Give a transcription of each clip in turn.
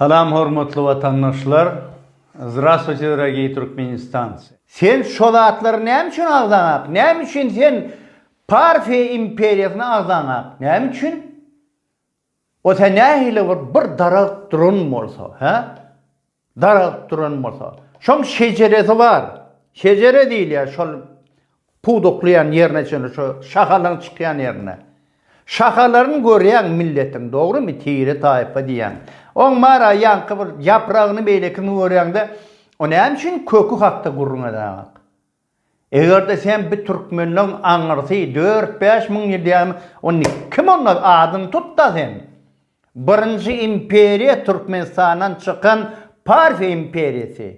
Salam hormatly watandaşlar! Zdrastwuýte drogiý Türkmenistancy! Sen şo zatlary näme üçin agzaňak? Näme üçin sen Parfiýa imperiýasyna agzaňak? Näme üçin? O sen nähili bir bir daragt duran bolsa, hä? Daragt duran bolsa. Şoň şejeresi bar. Şejere diýilýär şol Pudaklaýan ýerine çenli şo şahalaň çykýan ýerine. Şahalaryn görýäň milletiň dogrymy tire taýpa diýýäň. Oň bara ýaňky bir ýapragyny beýlekini görýäňde o näme üçin köki hakda gürrüň edäňok. Egerde sen bir türkmeniň aňyrsy dört bäş müň ýyl diýäňde onda kim onda adyny tutda sen. Birinji imperiýa türkmenistandan çykan parfiýa imperiýasy.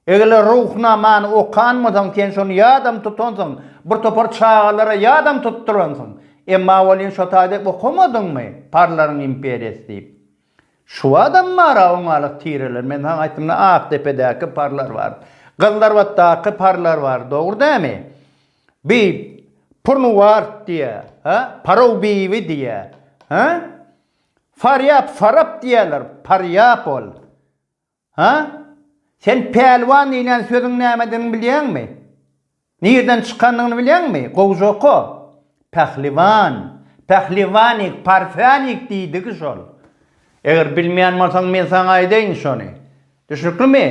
Eger-le Ruhnamany okanmasaň, sen şony ýadam tutansyň, bir topar çagalara ýadam tutduransyň. Emma welin şo taýda okamadyňmy? Parlaryň imperiýasy diýip. Şu adam bar-a, oňalyk tireler. Men saňa aýtdym-la, Akdepedäki parlar bar. Gyzlarbatdaky parlar bar. Dogry dämi? Bi Purnuwart diýýä, hä? Parow-biwi diýýä, hä? Farýap, Farap diýýäler. Parýap ol. Hä? Sen pälwan diýlen sözüň nämedigini bilýäňmi? Nirden çykanyny bilýäňmi? Gowja oka. Pähliwan. Pähliwanik, parfänik diýdigi şol. Eger bilmeýän bolsaň, men saňa aýdaýyn şony. Düşnüklimi?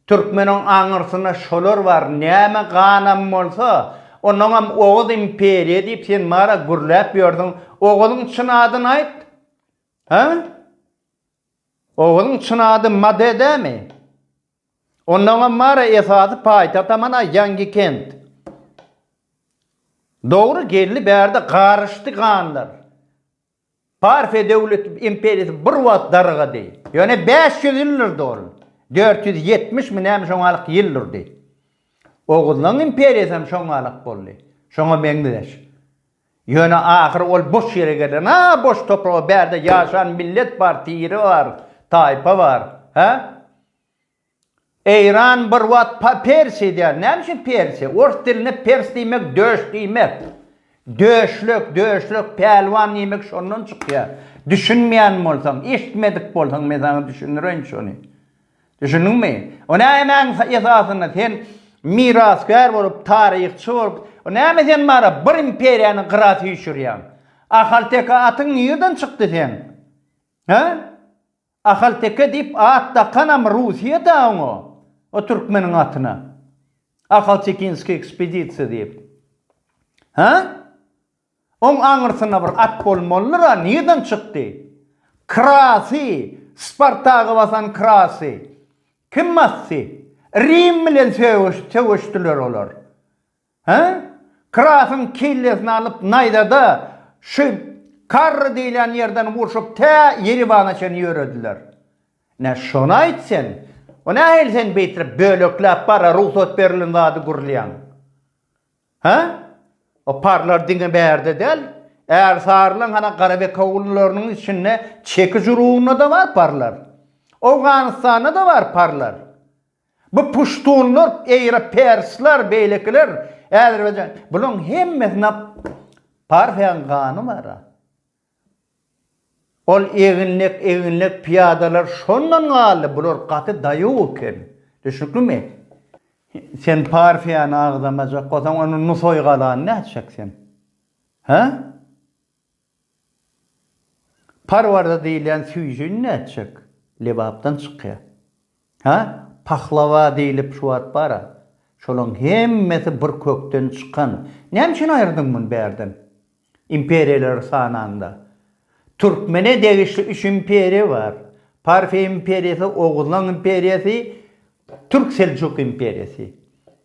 Türkmeniň aňyrsynda şolar bar, näme ganam bolsa, onuňam Oguz imperiýa diýip sen maňa gürläp ýördüň. Oguzyň çyn adyny aýt. Hä? Oguzyň çyn ady Made dämi? Onnoňam Mara esasy paýtagt amana ýangi kent. Dogry geldi bärde garyşdy ganlar. Parfiýa döwleti imperiýasy bir wagt dargady. Ýöne bäş ýüz ýyl durdy ol. Dört ýüz ýetmiş mi näme şoňalak ýyl durdy. Oguzlaň imperiýasam şoňalak boldy. Şoňa meňzeş. Ýöne ahyry ol boş ýere gelen, a boş topraga bärde ýaşan millet bar, tire bar, taýpa bar, hä? Eýran bir wagt pa Persi edýär, näme üçin Persi? Ors dilinde Pers diýmek döş diýmek. Döşlük, döşlük, pälwan diýmek şondan çykýar. Düşünmeýän bolsaň, eşitmedik bolsaň men saňa düşündireýin şony. Düşündiňmi? O nämäň esasynda sen mirasgär bolup, taryhçy bolup, o näme sen maňa bir imperiýany gyra süýşürýäň? Ahalteke atyň nirden çykdy seň? Hä? Ahalteke diýip at dakanam Russiýa-da oňa, o türkmeniň atyna. Ahaltekinskiý ekspedisiýa diýip. Hä? Oň aňyrsyna bir at bolmalydyr-a, nirden çykdy? Krasy, Spartagy basan Krasy. Kim basdy? Rim bilen söweşdiler olar. Hä? Krasyň kellesini alyp naýzada şu Karry diýilýän ýerden urşup tä Ýeribana çenli ýörediler. Ine, şony aýt sen. O nähili sen beýtirip bölekläp bara rugsat berilen zady gürlýäň? Hä? O parlar diňe bärde däl, Ärsarylaryň hana Garabekowullarynyň içinde çekiç urugynda-da bar parlar. Owganystanda-da bar parlar. Bu puştunlar, eýra persler, beýlekiler, äzerbaýjan, bularyň hemmesinde parsyň gany bar-a. Ol eginlek, eginlek pyýadalar şondan galdy, bular gaty daýaw eken. Düşnüklimi? Sen partiýany agzamajak bolsaň, onda Nusaý galany nätjek sen? Hä? Parwarda diýilýän süýjini nätjek? Lebapdan çykýar. Hä, pahlawa diýlip şu wagt bar-a. Şolaň hemmesi bir kökden çykan. Näme üçin aýyrdyň muny bärden? Imperiýalary sanaňda. Türkmene degişli üç imperiýa bar. Parfiýa imperiýasy, Oguzlaň imperiýasy, Türk-Seljuk imperiýasy.